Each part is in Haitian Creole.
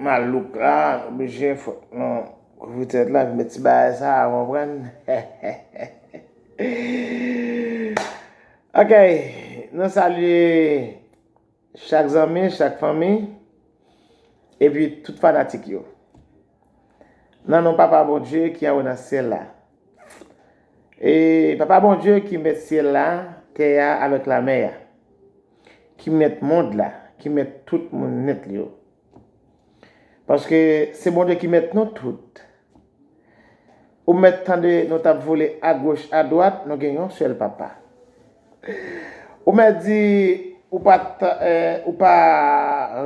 Malouk la oblije fòk nou kouvri tèt la ak met ti bagay sa a konprann. Ok nou salye chak zanmi, chak fanmi epi tout fanatik yo. Nan non Papa Bondye ki anwo nan syèl la. E Papa Bondye ki mèt syèl la, tè a avèk lamè a. ki mèt mond la, ki mèt tout moun nèt li yo. Paske se Bondye ki mèt nou tout. Ou mèt tande nou t ap vole agoch adwat, nou gen yon sèl Papa. Ou mèt di ou pa ou pa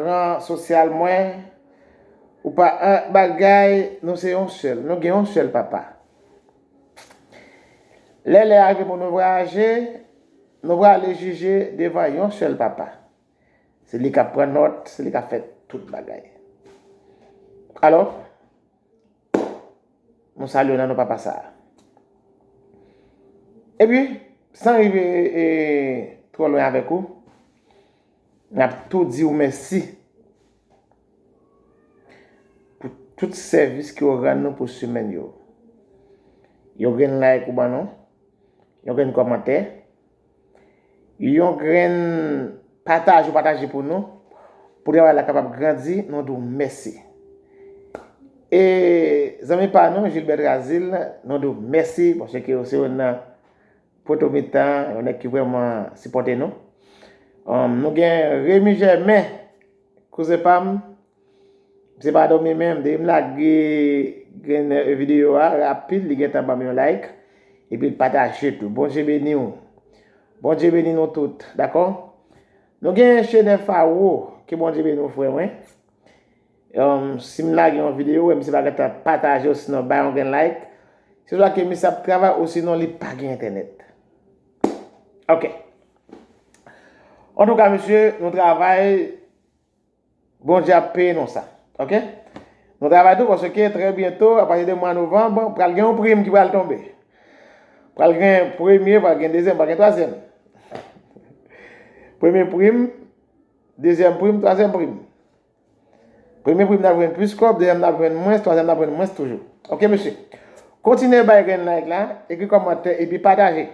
ran sosyal mwen, ou pa an bagay, nou se yon sèl, nou gen yon sèl Papa. Lè lè a rive pou nou vwayaje, Nou prale jije devan yon sèl Papa. Se li k ap pran nòt, se li k ap fè tout bagay. Alò, nou salye w nan non Papa sa a. Epi, san rive twò lwen avèk ou, n ap tou di w mèsi pou tout sèvis ke w rann nou pou semèn yo. Yon grenn like ou ban nou, Yon grenn kòmantè. Yon grenn pataj ou pataje pou nou. Pou travay la kapab grandi, nou di w mèsi. E zanmi pa nou, Gilbert Trazil, nou di w mèsi. Paske ou se yon nan poto mitan, yon nèg ki vrèman sipòte nou. Nou gen Remy Germain, kouzen pa m. Mse pa domi menm depim lage gen video a rapid li gentan banm yon like epil pataje tou bondye beniw bondye beni nou tout dakò nou gen chene faro ke bondye beni w frè mwen sim lage yon video wè misye pa gentan pataje osinon bay yon gen like se swa ke misye ap travay osinon li pa gen entènèt ok antouka misye nou travay Bondye ap peye nou sa. Ok. Nou travay tou paske trè byento a pati de mwa novanb pral gen yon prim ki pral tonbe. Pral gen premye, pral gen dezyèm, pral gen twazyèm. Premye prim, dezyèm prim, twazyèm prim. Premye prim nan jwenn plis kòb, dezyèm nan jwenn mwens, twazyèm nan jwenn mwens toujou. Ok mesye. Kontinye bay grenn like la, ekri kòmantè epi pataje.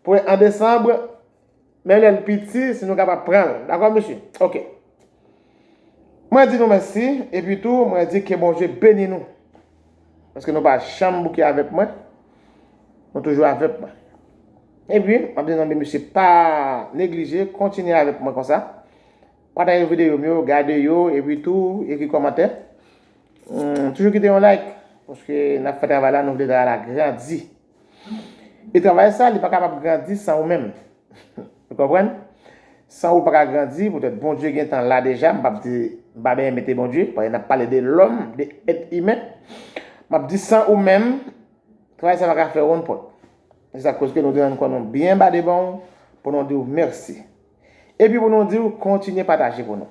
Pou an desanb Men lèl piti si nou kapab pranl dakò mesye ok mwen di nou mèsi epi tou mwen di ke Bondye beni nou paske nou pa janm bouke avèk mwen nou toujou avèk mwen epi map di zanmi mesye pa neglije kontinye avèk mwen konsa pataje videyo m yo gade yo epi tou ekri kòmantè toujou kite yon like paske nap fè travay la nou vle travay la grandi. E travay sa, li pa kapab grandi san ou menm. Ou konprann? San ou, l pa ka grandi, poutèt Bondye gen tan la deja, m p ap di, m pa benyen mete Bondye, paske n ap pale de lòm, de èt imen. M ap di san ou menm, travay sa pa ka fè wonn pòt. Se sa k koz ke nou di rann kò nou byen ba devan ou, pou nou di ou mèsi. Epi pou nou di ou kontinye pataje pou nou.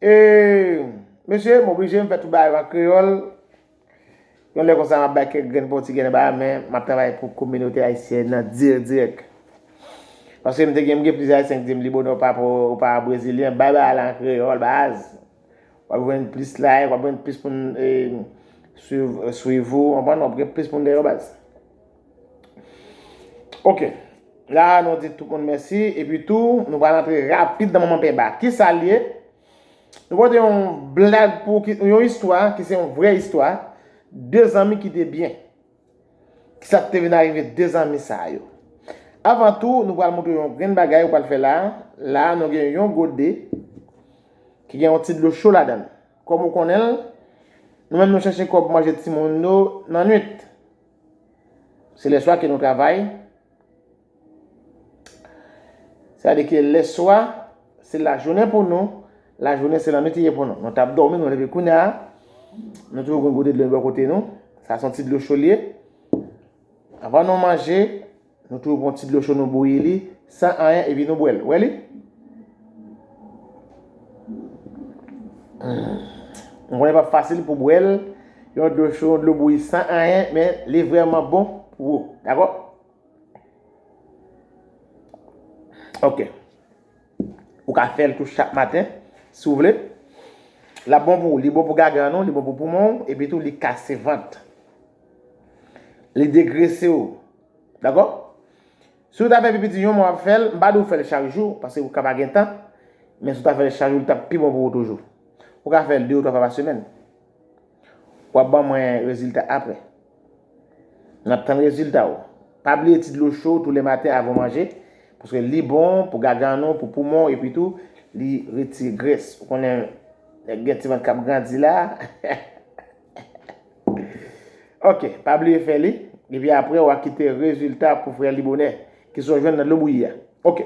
E mesye, m oblije m fè tout bagay yo an kreyòl. Yon lè konsa m ap bay kèk grenn pòtigè nan bagay men m ap travay pou kominote ayisyèn nan dirèk dirèk. Paske m te gen m gen plizyè ayisyen ki di m li bonè w pa pou w pa brezilyen bay bagay la an kreyòl baz. W ap jwenn plis like, w ap jwenn plis moun swiv ou, w ap jwenn plis moun dèyè w baz. Ok, la a nou di tout moun mèsi, epi tou nou pral antre rapid nan manman penba. Ki sa l ye? Nou pote yon blag pou ki, yon istwa ki se yon vrè istwa, de zanmi ki te byen. Ki sa ki te vin arive de zanmi sa yo? Avan tou, nou pral montre yon grenn bagay ou pral fè la a. La a nou gen yon gode ki gen yon ti dlo cho ladan l. Kòm ou konnen l, nou menm nou chèche kòb manje timoun nou nan nwit. Se lè swa ke nou travay. Sa vle di ke lè swa se lajounen pou nou, lajounen se lannwit li ye pou nou. Nou tap dòmi, nou leve kounya, nou toujou gen gode dlo bò kote nou, sa son ti dlo cho li ye. Avan nou manje. Nou tou pran ti dlo cho nou bouyi li san anyen epi nou bwè l. Ou wè li? M konnen pap fasil pou bwè l, yon dlo cho, yon dlo bouyi san anyen, men li vrèman bon pou ou. Dakò? Ok. Ou ka fè l tou chak maten, si ou vle. L ap bon pou ou. Li bon pou gagan ou, li bon pou poumon ou, epi tou li kase vant. Li degrese ou. Dakò? Si ou ta fè pipiti yon mwa wap fèl, m pa di ou fèl chak jou, paske ou ka pa gen tan, men si ou ta fèl chak jou li tap pi bon pou ou toujou. Ou ka fèl 2 ou 3 fwa pa semèn. Wap ban mwen rezilta aprè. Nap tann rezilta ou. Pa bliye ti dlo cho tou le maten avan ou manje, paske li bon pou gagann ou, pou poumon ou epi tou li retire grès. Ou konnen nèg gen ti vant kap grandi la. Ok, pa bliye fè li, epi apre w a kite rezilta pou frè li bonè, ki sa w jwenn nan dlo bouyi a. Ok.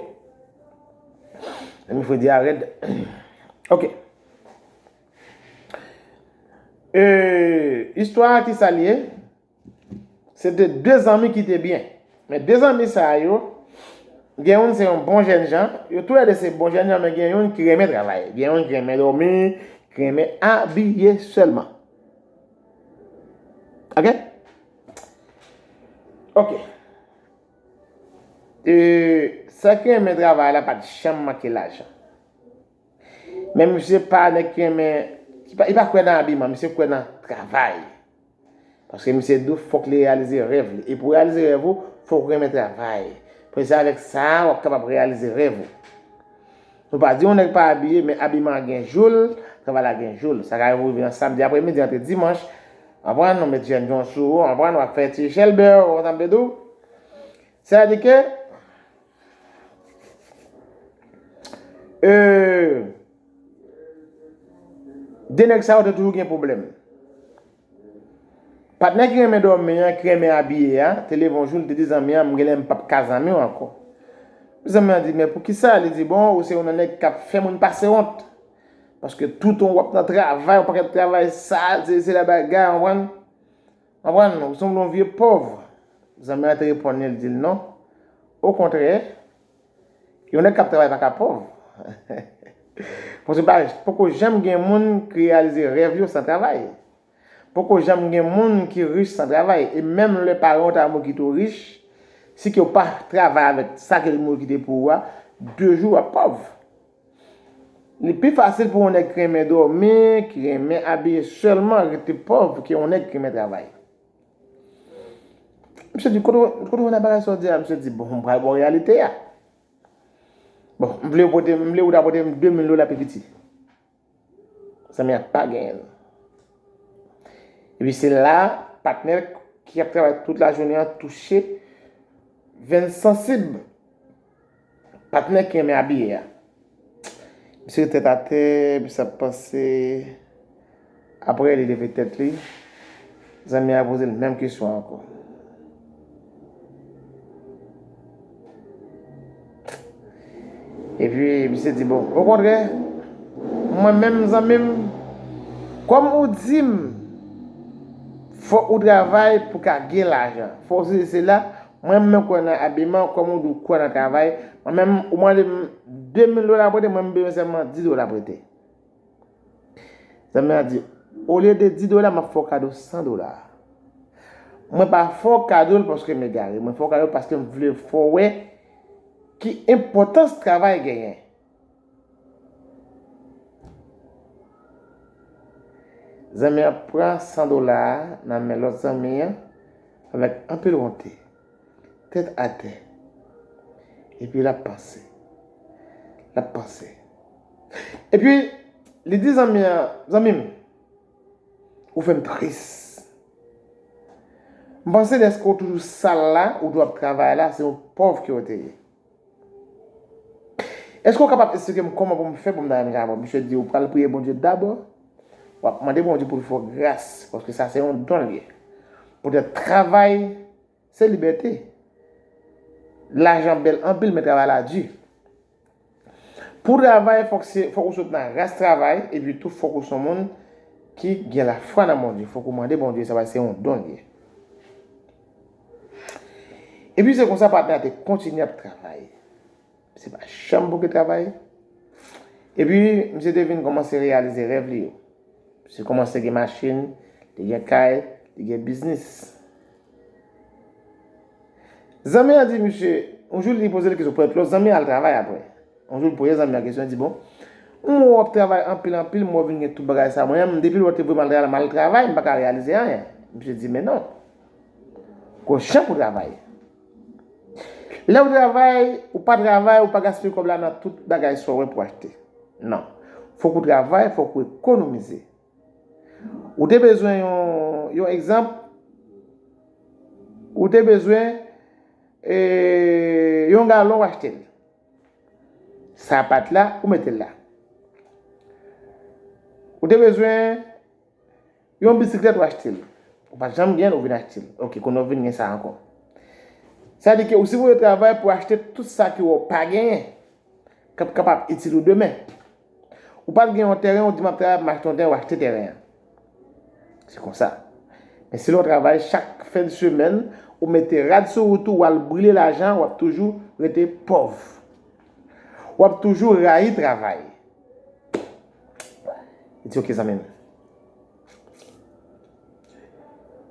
Zanmi fredi a rèd. Ok. E, istwa a ki sa li ye? Se te de zanmi ki te byen. Men de zanmi sa yo, gen youn se yon bon jèn jan, yo tou lè de se bon jèn jan men gen youn ki renmen travay, gen youn ki renmen dòmi, ki renmen abiye sèlman. Ok? Ok. E sa ki renmen travay la pat janm manke lajan. Men misye pa nèg ki renmen, li pa kwè nan abiman, misye kwè nan travay. Paske misye di w fòk li reyalize rèv li. E pou reyalize rèv ou, fòk ou renmen travay. Paske se avèk sa a wap kapab reyalize rèv ou. Nou pa di yon nèg pa abiye, men abiman an gen jou l, travay la gen jou l. Sa ka rive ou rive nan samdi apremidi antre dimanch, anprann, ou met jèn jan sou ou, anprann, wap fè ti chèlbè ou, kontan mde di w. Sa vle di ke, e. De nèg sa yo te toujou gen pwoblèm. Patnè ki renmen dòmi an, ki renmen abiye a, te leve yon jou, li te di zanmi an, m gen lè m pap ka zanmi w ankò. Zanmi an di, men poukisa? Li di, bon, ou se yon nan nèg k ap fè moun pase wont. Paske toutan w ap nan travay, yon pakèt travay sal, sesi sela bagay, konprann? Konprann? Ou sanble yon vye pòv. Zanmi an te reponn li, li di l, non. Okontrè, Yon nèg kap travay paka pòv. Paske pa poko janm gen moun ki reyalize rèv yo san travay. Poko janm gen moun ki rich san travay. E menm lè paran w ta mouri kite w rich, si ke w pa travay avèk sa ke li mouri kite pou ou a, de jou wap pòv. Li pi fasil pou yon nèg ki renmen dòmi, ki renmen abiye sèlman rete pòv ke yon nèg ki renmen travay. Misye di, kote ou jwenn bagay sa ou di a? Misye di, bon, m pral ba w reyalite a. Bon, m vle ou ta pote m 2000 dola pi piti. Zanmi a pa genyen l. Epi se la, patnè l ki ap travay tout lajounen an touche venn sansib. Patnè ki renmen abiye a. Misye ret tèt atè, misye ap panse. Aprè li leve tèt li, zanmi a poze l menm kesyon an ankò. Epi misye di bon, okontrè, mwen menm zanmi m, kòm ou di m fòk ou travay pou ka gen lajan, fòk ou sesi sela, Mwen menm mwen kwè nan abiman kòm ou di ou kwè nan travay, mwen menm ou mande m 2000 dola prete mwen m bezwen sèlman 10 dola prete. Zanmi an di, olye de 10 dola m ap fè w kado 100 dola. Mwen pa fè w kado l paske m egare, mwen fè w kado l paske m vle fè w wè ki enpòtans travay genyen. Zanmi an pran 100 dola a nan men lòt zanmi an avèk anpil wonte, tèt atè. Epi l ap panse. L ap panse. Epi, li di zanmi an, Zanmi m, ou fè m tris. M panse dèske ou toujou sal la, ou toujou ap travay la, se yon pòv ke ou te ye. Eske ou kapab esplike m kòman pou m fè pou m ta jwenn Jabò? Misye di ou pral priye Bondye dabò, w ap mande Bondye pou l fè w gras, paske sa se yon don l ye. Poutèt travay se libète. Lajan bèl anpil men travay la di. Pou w travay fòk se, fòk ou sot nan ras travay epi tou fòk ou son moun ki gen lafwa nan Bondye, fòk ou mande Bondye sa paske se yon don l ye. Epi se konsa patnè a te kontinye ap travay. Misye pa janm bouke travay. Epi misye te vin kòmanse reyalize rèv li yo. Misye kòmanse gen machin, li gen kay, li gen biznis. Zanmi an di misye, yon jou li poze l kesyon pou èt lò, zanmi an al travay apre. Yon jou li poze zanmi an kesyon, li di bon, m wè w ap travay anpil anpil, m wè w vin gen tout bagay sa. Mwen menm, depi lè w te voye m al travay la, m al travay, m pa ka reyalize anyen. Misye di men non. Kòchan pou travay. Lè ou travay, ou pa travay, ou pa gaspiye kòb la nan tout bagay sa w wè pou achte. Non. Fòk ou travay, fòk ou ekonomize. Ou te bezwen yon, yon egzanp, ou te bezwen e, yon galon ou achte l. Sa a pat la, ou mete l la. Ou te bezwen. Yon bisiklèt ou achte l. Ou pa t janm gen l, ou vin achte l. Ok, kounye a ou vin gen sa ankò. Sa di ke ou sipoze travay pou achte tout sa ke wè ou pa genyen, k ap kapab itil ou demen. Ou pa t gen yon tèren, ou di m ap travay pou m achte yon tèren, ou achte tèren an. Se konsa. Men si lè w travay chak fen de semèn, ou mete rad sou wout ou, ou al brile lajan, w ap toujou rete pòv. W ap toujou rayi travay. Li di ok zanmi m.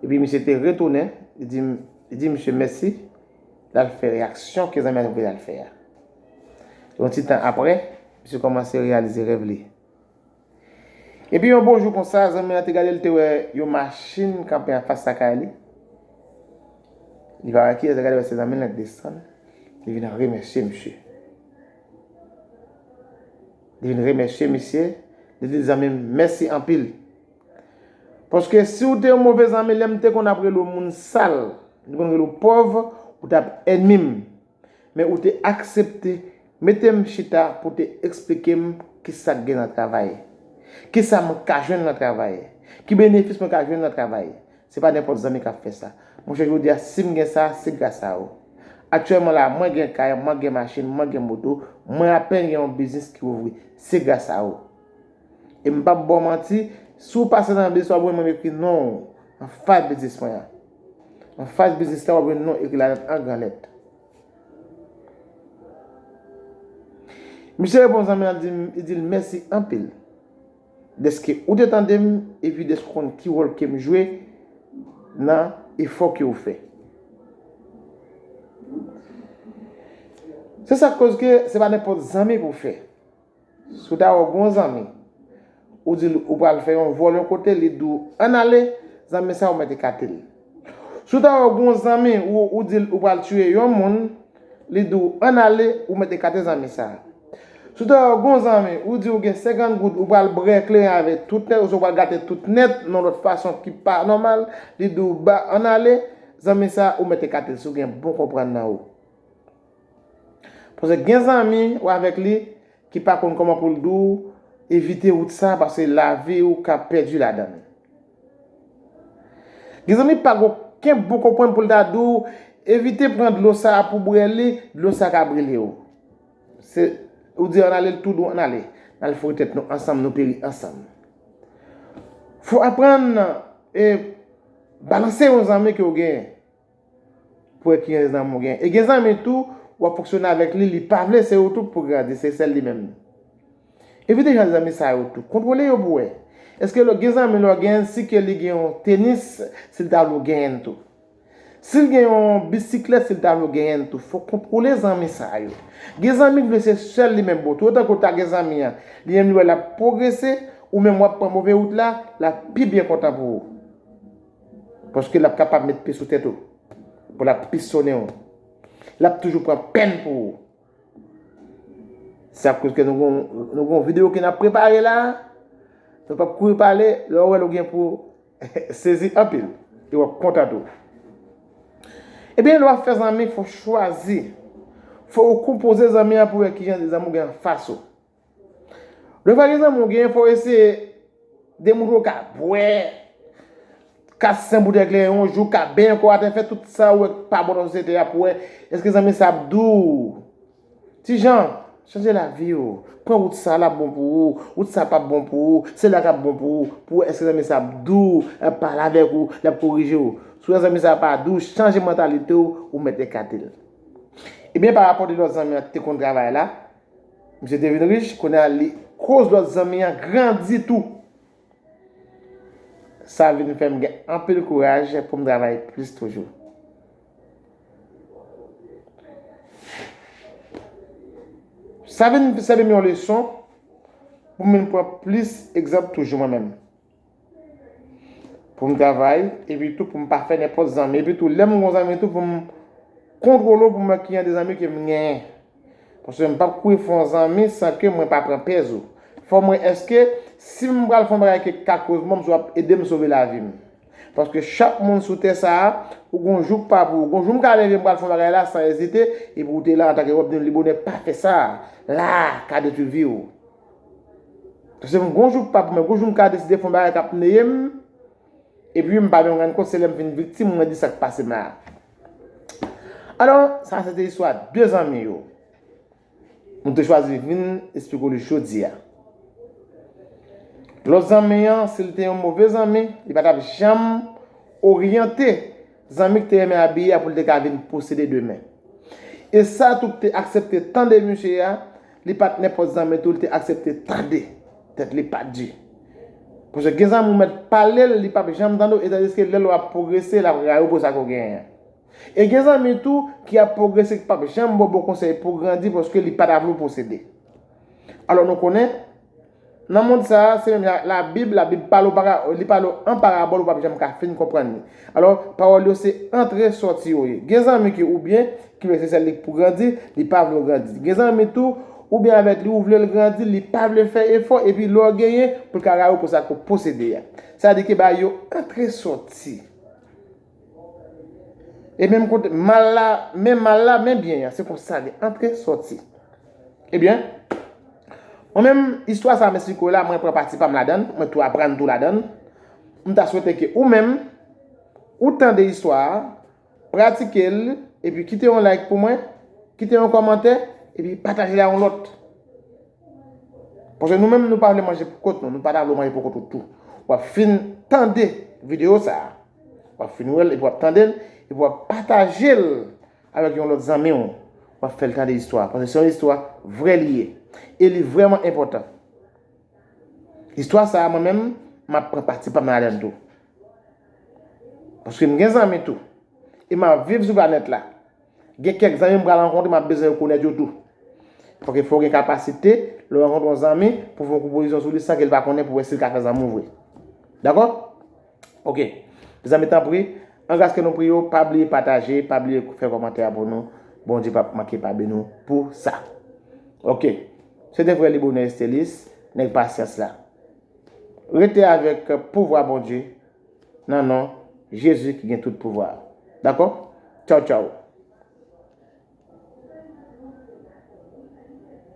Epi misye te retounen, li di m, li di misye mèsi, l al fè reyaksyon ke zanmi an te voye l al fè a. Yon ti tan aprè, misye kòmanse reyalize rèv li. Epi yon bon jou konsa, zanmi an te gade l te wè yon machin kanpe anfas lakay li, li pa wè kiyès, li gade wè se zanmi l lan, li desann, li vin remèsye misye. Li vin remèsye misye, li di l zanmi m mèsi anpil. Paske si w te yon move zanmi lè m te konn ap rele w moun sal, m te konn rele w pòv, ou t ap ènmi m. Men ou te aksepte mete m chita pou w te eksplike m kisa k gen nan travay. Kisa m ka jwenn nan travay. Ki benefis mwen ka jwenn nan travay. Se pa nenpòt zanmi kap fè sa. Monchè jodi a sim gen sa, se gras a ou. Aktyèlman la, mwen gen kay, mwen gen machin, mwen gen moto, mwen apenn gen yon biznis ki ouvri. Se gras a ou. E m pap ba w manti, si w pase nan biznis wap wè mwen ekri non ou anfas biznis mwen an. Anfas biznis la wap jwenn non ekri ladan an gran lèt. Misye reponn zanmi an li di l mèsi anpil. dèske ou te tande m epi dèske ou konn ki wòl ke m jwe nan efò ke ou fè. Se sa k koz ke se pa nenpòt zanmi pou w fè. Si w ta wè w gen yon zanmi, ou di l ou pral fè yon vòl yon kote, li di w ann ale, zanmi sa a ou mèt ekate l. Si w ta wè w gen yon zanmi ou di l ou pral tiye yon moun, li di w ann ale, ou mèt ekate zanmi sa a. Si w ta wè w gen yon zanmi ou di ou gen 50 goud ou pral brè kleren avèk tout nèt oswa ou pral gate tout nèt nan yon lòt fason ki pa nòmal, li di w ba ann ale, zanmi sa a ou mèt ekate l si w gen bon konprann nan ou. Paske gen zanmi ou avèk li ki pa konn kòman pou l di w evite wout sa a paske lavi ou ka pèdi ladan l. Gen zanmi pa gen okenn bon konprann pou l ta di w evite pran dlo sa a pou bwè li, dlo sa a ka brile w. Se ou di ann ale l tou dou ann ale. N al foure tèt nou ansanm nou peri ansanm. Fò w aprann balanse yon zanmi ke w genyen. Pou wè ki rès zanmi w gen. E gen zanmi tou, w ap fonksyone avèk li, li pa vle se ou tou k pou w grandi, se sèl li menm. Evite jan zanmi sa yo tou. Kontwole yo pou wè. Èske gen zanmi lè w gen l si ke li gen yon tenis, si l ta vle w genyen l tou. Si l gen yon bisiklèt, si l ta vle w genyen l tou. Fò w kontwole zanmi sa yo. Gen zanmi k vle se sèl li menm pou w. Tou otan ke w ta gen zanmi an, li menm li wè l ap pwogrese, ou menm w ap pran move wout la, l ap pi byen kontan pou ou. Paske l ap kapab met pi sou tèt ou, pou l ap pisonnen ou. L ap toujou pran pèn pou ou. Se akoz ke nou gen yon video ke n ap prepare la, nou p ap kouri pale, lè ou wè l ou gen pou sezi anpil, e w ap kontan tou. Ebyen lè w ap fè zanmi, fò w chwazi, fò ou konpoze zanmi an pou wè kijan de zanmi ou gen anfas ou. Lè w fè gen zanmi w genyen fò w eseye de moun ou ka bwè, ka sen boutèy kleren yon jou, ka benyen kò w atè, fè tout sa ou wè k pa bon nan sosyete a pou w wè èske zanmi sa ap dou w. Ti jan, chanje lavi w, pran wout sa l ap bon pou ou, wout sa pap bon pou ou, se la k ap bon pou ou, pou w wè èske zanmi sa ap dou w, l ap pale avèk ou, l ap korije w. Si w wè zanmi sa pa dou w, chanje mantalite w, ou mèt ekate l. Ebyen parapò de lòt zanmi an te konn travay la. Misye te vin rich, kounye a li koz lòt zanmi an grandi tou. Sa vin fè m gen anpil kouraj pou m travay plis toujou. Sa vin sèvi m yon leson pou m vin pran plis egzanp toujou mwen menm. Pou m travay, epi tou pou m pa fè nenpòt zanmi. Epi tou, lè m gen yon zanmi tou, pou m kontwole w pou m wè ki jan de zanmi ke m genyen. Paske m pap kouri fè yon zanmi san ke mwen pa pran pèz ou. Fò m wè èske si m pral fè yon bagay ke ka koz mò m, si w ap ede m sove lavi m. Paske chak moun sou tè sa a, ou gen yon jou k pa pou ou. Gen yon jou m ka leve m pral fè yon bagay la san ezite, epi ou te la antanke wè m di m li bonè pa fè sa a. La a ka detwi vi w. Se m gon jou m pa pou mwen, gon jou m ka deside fè yon bagay k ap neye m, epi m pa menm rann kont se lè m vin viktim mwen di sa k pase m la. Alò, sa se te istwa 2 zanmi yo m te chwazi vin esplike w li jodi a. Lòt zanmi an, si l te yon move zanmi, li pa t ap janm oryante. Zanmi ki te renmen abiye a pou l te ka vin posede demen. E sa tou ki te aksepte tande misye a, li pa t nenpòt zanmi tou li te aksepte tande. Tèt li pa t di. Paske gen zanmi ou mèt pale l, li p ap janm tande w etandiske lè l wè w ap pwogrese, l ap rayi w pou sa ke w genyen an. E gen zanmi tou ki ap pwogrese ki p ap janm ba w bon konsèy pou w grandi paske li pa ta vle w posede. Alò nou konnen. Nan mond sa a, se menm jan ak Labib, Labib pale w para, li pale w an parabòl ou p ap janm ka fin konprann li. Alò, pawòl yo se antre sòti yo ye. Gen zanmi ki oubyen, ki vle se sèl li k pou grandi, li pa vle w grandi. Gen zanmi tou, oubyen avèk li ou vle l grandi, li pa vle fè efò, epi lè w genyen, pou l ka rayi w pou sa ke w posede a. Sa di ke ba yo antre sòti. E menm kote mal la, men mal la, men byen an, se konsa gen antre, sòti. E byen, mwen menm, istwa sa mèsi kou la, mwen pran pati pa m ladan l, mwen tou aprann tou ladan l. M ta swete ke ou menm, ou tande istwa a, pratike l, epi kite yon like pou mwen, kite yon kòmantè, epi pataje l a yon lòt. Paske nou menm nou pa vle manje pou kont nou, nou pa ta vle w manje pou kont ou tou. W ap fin tande videyo sa a, w ap fin wè l epi w ap tande l, epi w ap pataje l avèk yon lòt zanmi w, w ap fè l tande istwa a. Paske se yon istwa vrè li ye. E li vrèman enpòtan. Istwa sa a mwen menm, m ap pran pati pa m ladan l tou. Paske m gen zanmi tou. E m ap viv sou planèt la. Gen kèk zanmi m pral rankontre m ap bezwen rekonèt yo tou. Fòk e fè w gen kapasite, lè w rankontre yon zanmi, pou w fè yon konpozisyon sou li san ke l pa konnen pou w wè si l ka fè zanmi w vre. Dakò? Ok. Mezanmi tanpri, angras kè nou priye w, pa bliye pataje, pa bliye fè kòmantè a pou nou. Bondye p ap manke pa beni w pou sa. Ok. Se te frè Libonè Estelis, nèg pasyans la. Rete avèk pouvwa Bondye. nan non jezi ki gen tout pouvwa a dakò tchaw tchaw.